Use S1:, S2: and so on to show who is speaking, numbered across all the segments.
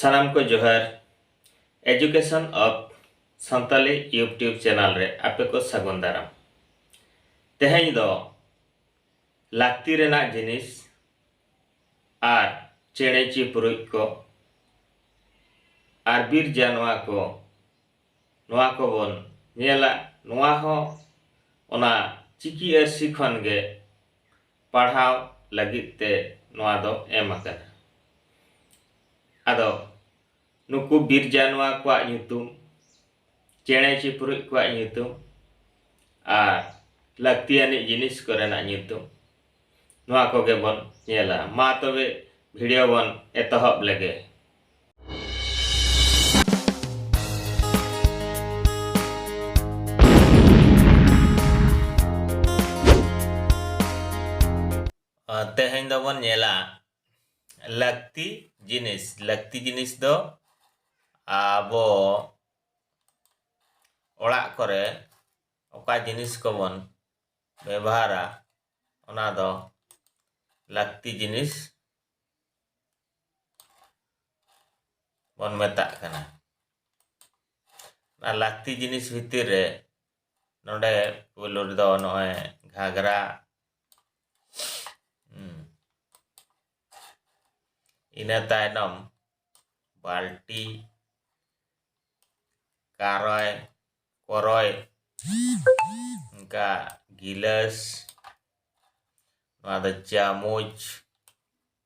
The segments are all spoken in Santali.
S1: ᱥᱟᱱᱟᱢ ᱠᱚ ᱡᱚᱦᱟᱨ education of Santali YouTube channel ᱨᱮ ᱟᱯᱮ ᱠᱚ ᱥᱟᱹᱜᱩᱱ ᱫᱟᱨᱟᱢ ᱛᱮᱦᱮᱧ ᱫᱚ ᱞᱟᱹᱠᱛᱤ ᱨᱮᱱᱟᱜ ᱡᱤᱱᱤᱥ ᱟᱨ ᱪᱮᱬᱮ ᱪᱤᱯᱨᱩᱡ ᱠᱚ ᱟᱨ ᱵᱤᱨ ᱡᱟᱱᱣᱟ ᱠᱚ ᱱᱚᱣᱟ ᱠᱚᱵᱚᱱ ᱧᱮᱞᱟ ᱱᱚᱣᱟ ᱦᱚᱸ ᱚᱱᱟ ᱪᱤᱠᱤ ᱟᱹᱨᱥᱤ ᱠᱷᱚᱱ ᱜᱮ ᱯᱟᱲᱦᱟᱣ ᱞᱟᱹᱜᱤᱫ ᱛᱮ ᱱᱚᱣᱟ ᱫᱚ ᱮᱢ ᱟᱠᱟᱱᱟ᱾ ᱟᱫᱚ ᱱᱩᱠᱩ ᱵᱤᱨ ᱡᱟᱱᱣᱟ ᱠᱚᱣᱟᱜ ᱧᱩᱛᱩᱢ, ᱪᱮᱬᱮ ᱪᱤᱯᱨᱩᱡ ᱠᱚᱣᱟᱜ ᱧᱩᱛᱩᱢ ᱟᱨ ᱞᱟᱹᱠᱛᱤ ᱟᱹᱱᱤᱡ ᱡᱤᱱᱤᱥ ᱠᱚᱨᱮᱱᱟᱜ ᱧᱩᱛᱩᱢ ᱱᱚᱣᱟ ᱠᱚᱜᱮ ᱵᱚᱱ ᱧᱮᱞᱟ᱾ ᱢᱟ ᱛᱚᱵᱮ ᱵᱷᱤᱰᱤᱭᱳ ᱵᱚᱱ ᱮᱛᱚᱦᱚᱵ ᱞᱮᱜᱮ᱾ ᱛᱮᱦᱮᱧ ᱫᱚᱵᱚᱱ ᱧᱮᱞᱟ ᱞᱟᱹᱠᱛᱤ ᱡᱤᱱᱤᱥ ᱞᱟᱹᱠᱛᱤ ᱡᱤᱱᱤᱥ ᱫᱚ ᱟᱵᱚ ᱚᱲᱟᱜ ᱠᱚᱨᱮ ᱚᱠᱟ ᱡᱤᱱᱤᱥ ᱠᱚᱵᱚᱱ ᱵᱮᱵᱚᱦᱟᱨᱟ ᱚᱱᱟ ᱫᱚ ᱞᱟᱹᱠᱛᱤ ᱡᱤᱱᱤᱥ ᱵᱚᱱ ᱢᱮᱛᱟᱜ ᱠᱟᱱᱟ ᱚᱱᱟ ᱞᱟᱹᱠᱛᱤ ᱡᱤᱱᱤᱥ ᱵᱷᱤᱛᱤᱨ ᱨᱮ ᱱᱚᱰᱮ ᱯᱳᱭᱞᱳ ᱨᱮᱫᱚ ᱱᱚᱜᱼᱚᱭ ᱜᱷᱟᱜᱽᱨᱟ ᱤᱱᱟᱹ ᱛᱟᱭᱱᱚᱢ ᱵᱟᱞᱴᱤ ᱠᱟᱨᱚᱭ ᱠᱚᱨᱚᱭ ᱚᱱᱠᱟ ᱜᱤᱞᱟᱹᱥ ᱱᱚᱣᱟ ᱫᱚ ᱪᱟᱢᱚᱪ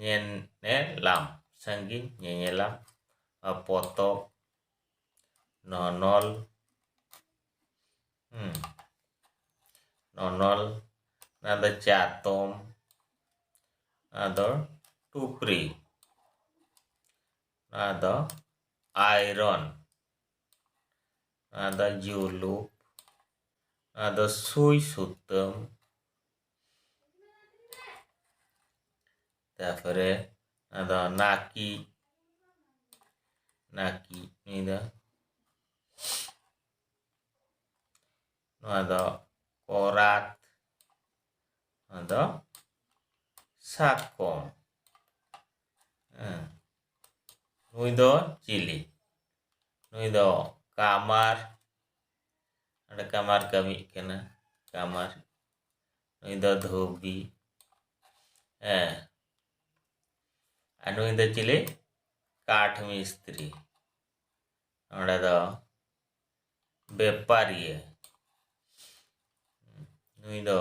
S1: ᱧᱮᱱᱮᱞᱟᱢ ᱥᱟᱺᱜᱤᱧ ᱧᱮᱧᱮᱞᱟᱢ ᱯᱚᱛᱚᱵ ᱱᱚᱱᱚᱞ ᱦᱩᱸ ᱱᱚᱱᱚᱞ ᱚᱱᱟ ᱫᱚ ᱪᱟᱛᱚᱢ ᱚᱱᱟ ᱫᱚ ᱴᱩᱯᱨᱤ ᱚᱱᱟ ᱫᱚ ᱟᱭᱨᱚᱱ ᱚᱱᱟ ᱫᱚ ᱡᱩᱞᱩᱯ ᱚᱱᱟ ᱫᱚ ᱥᱩᱭ ᱥᱩᱛᱟᱹᱢ ᱛᱟᱯᱚᱨᱮ ᱟᱫᱚ ᱱᱟᱠᱤ ᱱᱟᱠᱤ ᱱᱩᱭ ᱫᱚ ᱱᱚᱣᱟ ᱫᱚ ᱠᱚᱨᱟᱛ ᱱᱚᱣᱟ ᱫᱚ ᱥᱟᱠᱚᱢ ᱱᱩᱭ ᱫᱚ ᱪᱤᱞᱤ ᱱᱩᱭ ᱫᱚ ᱠᱟᱢᱟᱨ ᱚᱸᱰᱮ ᱠᱟᱢᱟᱨ ᱠᱟᱹᱢᱤᱜ ᱠᱟᱱᱟ ᱠᱟᱢᱟᱨ ᱱᱩᱭ ᱫᱚ ᱫᱷᱩᱵᱤ ᱦᱮᱸ ᱟᱨ ᱱᱩᱭ ᱫᱚ ᱪᱤᱞᱤ ᱠᱟᱴᱷ ᱢᱤᱥᱛᱨᱤ ᱱᱚᱰᱮ ᱫᱚ ᱵᱮᱯᱟᱨᱤᱭᱟᱹ ᱱᱩᱭ ᱫᱚ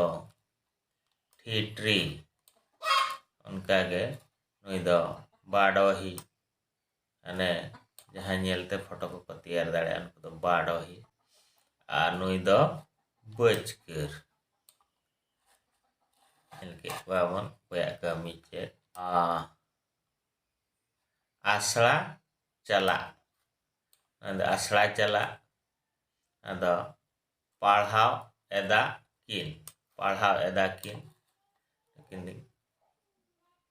S1: ᱴᱷᱤᱴᱨᱤ ᱚᱱᱠᱟᱜᱮ ᱱᱩᱭ ᱫᱚ ᱵᱟᱰᱚᱦᱤ ᱢᱟᱱᱮ ᱡᱟᱦᱟᱸ ᱧᱮᱞᱛᱮ ᱯᱷᱳᱴᱳ ᱠᱚᱠᱚ ᱛᱮᱭᱟᱨ ᱫᱟᱲᱮᱭᱟᱜᱼᱟ ᱩᱱᱠᱩ ᱫᱚ ᱵᱟᱰᱚᱦᱤ ᱟᱨ ᱱᱩᱭ ᱫᱚ ᱵᱟᱹᱪᱠᱟᱹᱨ ᱧᱮᱞ ᱠᱮᱫ ᱠᱚᱣᱟ ᱵᱚᱱ ᱚᱠᱚᱭᱟᱜ ᱠᱟᱹᱢᱤ ᱪᱮᱫ ᱟᱥᱲᱟ ᱪᱟᱞᱟᱜ ᱟᱫᱚ ᱟᱥᱲᱟ ᱪᱟᱞᱟᱜ ᱟᱫᱚ ᱯᱟᱲᱦᱟᱣ ᱮᱫᱟ ᱠᱤᱱ ᱯᱟᱲᱦᱟᱣ ᱮᱫᱟ ᱠᱤᱱ ᱱᱩᱠᱤᱱ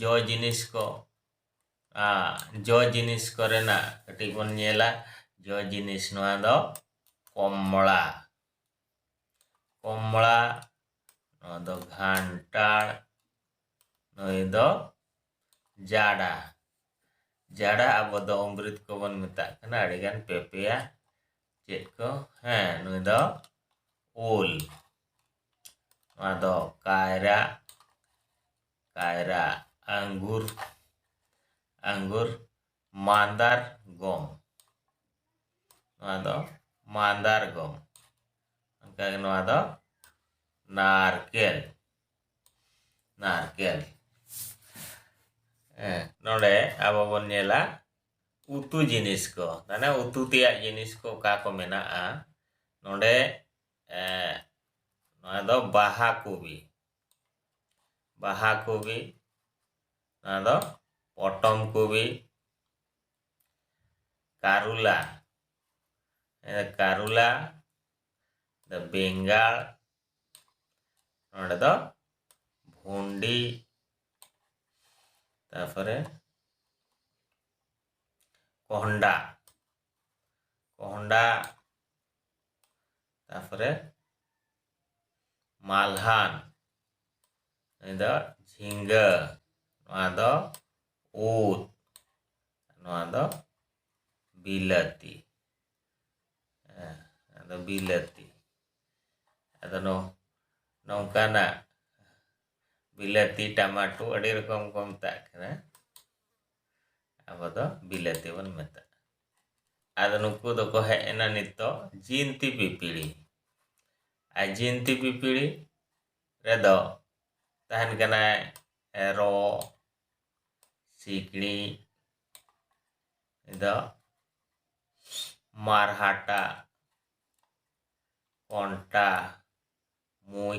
S1: ᱡᱚ ᱡᱤᱱᱤᱥ ᱠᱚ ᱡᱚ ᱡᱤᱱᱤᱥ ᱠᱚᱨᱮᱱᱟᱜ ᱠᱟᱹᱴᱤᱡ ᱵᱚᱱ ᱧᱮᱞᱟ ᱡᱚ ᱡᱤᱱᱤᱥ ᱱᱚᱣᱟ ᱫᱚ ᱠᱚᱢᱲᱟ ᱠᱚᱢᱲᱟ ᱱᱚᱣᱟ ᱫᱚ ᱜᱷᱟᱱᱴᱟᱲ ᱱᱩᱭ ᱫᱚ ᱡᱟᱰᱟ ᱡᱟᱰᱟ ᱟᱵᱚ ᱫᱚ ᱚᱢᱨᱤᱛ ᱠᱚᱵᱚᱱ ᱢᱮᱛᱟᱜ ᱠᱟᱱᱟ ᱟᱹᱰᱤᱜᱟᱱ ᱯᱮ ᱯᱮᱭᱟ ᱪᱮᱫ ᱠᱚ ᱦᱮᱸ ᱱᱩᱭ ᱫᱚ ᱩᱞ ᱱᱚᱣᱟ ᱫᱚ ᱠᱟᱭᱨᱟ ᱠᱟᱭᱨᱟ ᱟᱸᱜᱩᱨ ᱟᱸᱜᱩᱨ ᱢᱟᱸᱫᱟᱨ ᱜᱚᱢ ᱱᱚᱣᱟ ᱫᱚ ᱢᱟᱸᱫᱟᱨ ᱜᱚᱢ ᱚᱱᱠᱟᱜᱮ ᱱᱚᱣᱟ ᱫᱚ ᱱᱟᱨᱠᱮᱞ ᱱᱟᱨᱠᱮᱞ ᱱᱚᱰᱮ ᱟᱵᱚ ᱵᱚᱱ ᱧᱮᱞᱟ ᱩᱛᱩ ᱡᱤᱱᱤᱥ ᱠᱚ ᱢᱟᱱᱮ ᱩᱛᱩ ᱛᱮᱭᱟᱜ ᱡᱤᱱᱤᱥ ᱠᱚ ᱚᱠᱟ ᱠᱚ ᱢᱮᱱᱟᱜᱼᱟ ᱱᱚᱰᱮ ᱱᱚᱣᱟ ᱫᱚ ᱵᱟᱦᱟ ᱠᱚᱵᱤ ᱵᱟᱦᱟ ᱠᱚᱵᱤ ᱱᱚᱣᱟ ᱫᱚ ᱯᱚᱴᱚᱢ ᱠᱚᱵᱤ ᱠᱟᱨᱩᱞᱟ ᱠᱟᱨᱩᱞᱟ ᱫᱚ ᱵᱮᱝᱜᱟᱲ ᱱᱚᱰᱮ ᱫᱚ ᱵᱷᱩᱱᱰᱤ ᱛᱟᱨᱯᱚᱨᱮ ᱠᱚᱦᱚᱸᱰᱟ ᱠᱚᱦᱚᱸᱰᱟ ᱛᱟᱨᱯᱚᱨᱮ ᱢᱟᱞᱦᱟᱱ ᱱᱩᱭ ᱫᱚ ᱡᱷᱤᱸᱜᱟᱹ ᱱᱚᱣᱟ ᱫᱚ ᱩᱫ ᱱᱚᱣᱟ ᱫᱚ ᱵᱤᱞᱟᱹᱛᱤ ᱦᱮᱸ ᱟᱫᱚ ᱵᱤᱞᱟᱹᱛᱤ ᱟᱫᱚ ᱱᱚᱝᱠᱟᱱᱟᱜ ᱵᱤᱞᱟᱹᱛᱤ ᱴᱟᱢᱟᱴᱳ ᱟᱹᱰᱤ ᱨᱚᱠᱚᱢ ᱠᱚ ᱢᱮᱛᱟᱜ ᱠᱟᱱᱟ ᱟᱵᱚ ᱫᱚ ᱵᱤᱞᱟᱹᱛᱤ ᱵᱚᱱ ᱢᱮᱛᱟᱜᱼᱟ ᱟᱫᱚ ᱱᱩᱠᱩ ᱫᱚᱠᱚ ᱦᱮᱡ ᱮᱱᱟ ᱱᱤᱛᱚᱜ ᱡᱤᱱᱛᱤ ᱯᱤᱯᱤᱲᱤ ᱟᱨ ᱡᱤᱱᱛᱤ ᱯᱤᱯᱤᱲᱤ ᱨᱮᱫᱚ ᱛᱟᱦᱮᱱ ᱠᱟᱱᱟᱭ ᱮᱨᱚᱜ ᱥᱤᱠᱲᱤᱡ ᱫᱚ ᱢᱟᱨᱦᱟᱴᱟ ᱠᱚᱱᱴᱟ ᱢᱩᱡ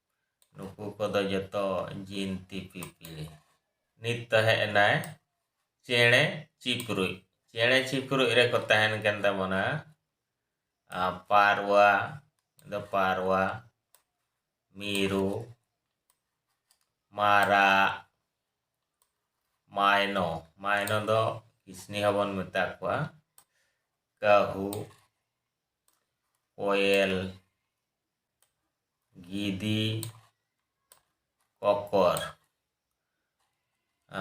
S1: ᱱᱩᱠᱩ ᱠᱚᱫᱚ ᱡᱚᱛᱚ ᱡᱤᱱᱛᱤ ᱯᱤᱯᱤᱲᱤ ᱱᱤᱛ ᱛᱟᱦᱮᱸ ᱮᱱᱟᱭ ᱪᱮᱬᱮ ᱪᱤᱯᱨᱩᱡ ᱪᱮᱬᱮ ᱪᱤᱯᱨᱩᱡ ᱨᱮᱠᱚ ᱛᱟᱦᱮᱱ ᱠᱟᱱ ᱛᱟᱵᱚᱱᱟ ᱯᱟᱨᱣᱟ ᱫᱚ ᱯᱟᱨᱣᱟ ᱢᱤᱨᱩ ᱢᱟᱨᱟᱜ ᱢᱟᱭᱱᱚ ᱢᱟᱭᱱᱚ ᱫᱚ ᱠᱤᱥᱱᱤ ᱦᱚᱸᱵᱚᱱ ᱢᱮᱛᱟ ᱠᱚᱣᱟ ᱠᱟᱹᱦᱩ ᱠᱚᱭᱮᱞ ᱜᱤᱫᱤ ᱠᱚᱠᱚᱨ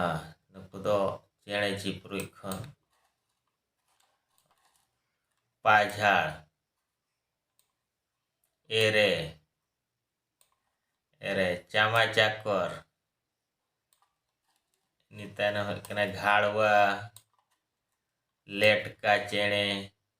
S1: ᱟᱨ ᱱᱩᱠᱩ ᱫᱚ ᱪᱮᱬᱮ ᱪᱤᱯᱨᱩᱡ ᱠᱷᱚᱱ ᱯᱟᱡᱷᱟᱲ ᱮᱨᱮ ᱮᱨᱮ ᱪᱟᱢᱟ ᱪᱟᱠᱚᱨ ᱱᱤᱛᱟᱱ ᱦᱩᱭᱩᱜ ᱠᱟᱱᱟ ᱜᱷᱟᱲᱣᱟ ᱞᱮᱴᱠᱟ ᱪᱮᱬᱮ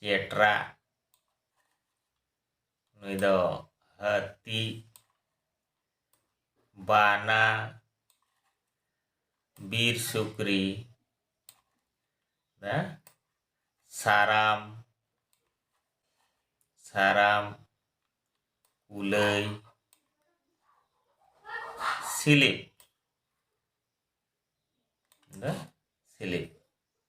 S1: ᱪᱮᱴᱨᱟ ᱱᱩᱭ ᱫᱚ ᱦᱟᱹᱛᱤ ᱵᱟᱱᱟ ᱵᱤᱨ ᱥᱩᱠᱨᱤ ᱥᱟᱨᱟᱢ ᱥᱟᱨᱟᱢ ᱠᱩᱞᱟᱹᱭ ᱥᱤᱞᱤᱯ ᱥᱤᱞᱤᱯ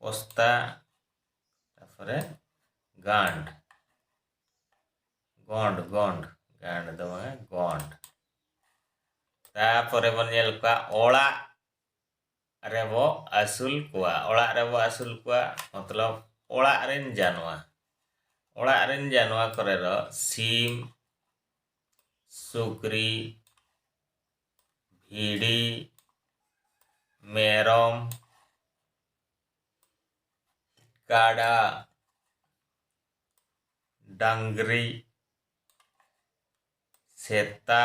S1: ᱯᱚᱥᱛᱟ ᱛᱟᱨᱯᱚᱨᱮ ᱜᱟᱸᱰ ᱜᱚᱸᱰ ᱜᱚᱸᱰ ᱜᱟᱸᱰ ᱫᱚ ᱵᱟᱝ ᱜᱚᱸᱰ ᱛᱟᱨᱯᱚᱨᱮ ᱵᱚᱱ ᱧᱮᱞ ᱠᱚᱣᱟ ᱚᱲᱟᱜ ᱨᱮᱵᱚ ᱟᱹᱥᱩᱞ ᱠᱚᱣᱟ ᱚᱲᱟᱜ ᱨᱮᱵᱚ ᱟᱹᱥᱩᱞ ᱠᱚᱣᱟ ᱢᱚᱛᱞᱚᱵ ᱚᱲᱟᱜ ᱨᱮᱱ ᱡᱟᱱᱣᱟ ᱚᱲᱟᱜ ᱨᱮᱱ ᱡᱟᱱᱣᱟ ᱠᱚᱨᱮ ᱫᱚ ᱥᱤᱢ ᱥᱩᱠᱨᱤ ᱵᱷᱤᱰᱤ ᱢᱮᱨᱚᱢ ᱠᱟᱰᱟ ᱰᱟᱝᱨᱤ ᱥᱮᱛᱟ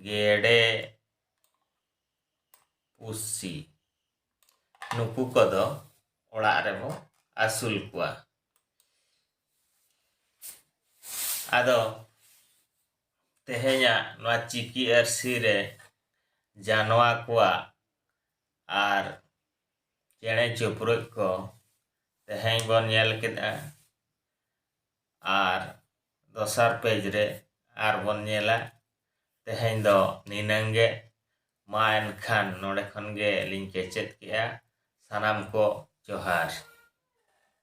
S1: ᱜᱮᱰᱮ ᱯᱩᱥᱤ ᱱᱩᱠᱩ ᱠᱚᱫᱚ ᱚᱲᱟᱜ ᱨᱮᱵᱚ ᱟᱹᱥᱩᱞ ᱠᱚᱣᱟ ᱟᱫᱚ ᱛᱮᱦᱮᱧᱟᱜ ᱱᱚᱣᱟ ᱪᱤᱠᱤ ᱟᱹᱨᱥᱤ ᱨᱮ ᱡᱟᱱᱣᱟ ᱠᱚᱣᱟᱜ ᱟᱨ ᱪᱮᱬᱮ ᱪᱤᱯᱨᱩᱫ ᱠᱚ ᱛᱮᱦᱮᱧ ᱵᱚᱱ ᱧᱮᱞ ᱠᱮᱫᱟ ᱟᱨ ᱫᱚᱥᱟᱨ ᱯᱮᱡᱽ ᱨᱮ ᱟᱨ ᱵᱚᱱ ᱧᱮᱞᱟ ᱛᱮᱦᱮᱧ ᱫᱚ ᱱᱤᱱᱟᱹᱝ ᱜᱮ ᱢᱟ ᱮᱱᱠᱷᱟᱱ ᱱᱚᱰᱮ ᱠᱷᱚᱱ ᱜᱮ ᱞᱤᱧ ᱠᱮᱪᱮᱫ ᱠᱮᱜᱼᱟ ᱥᱟᱱᱟᱢ ᱠᱚ ᱡᱚᱦᱟᱨ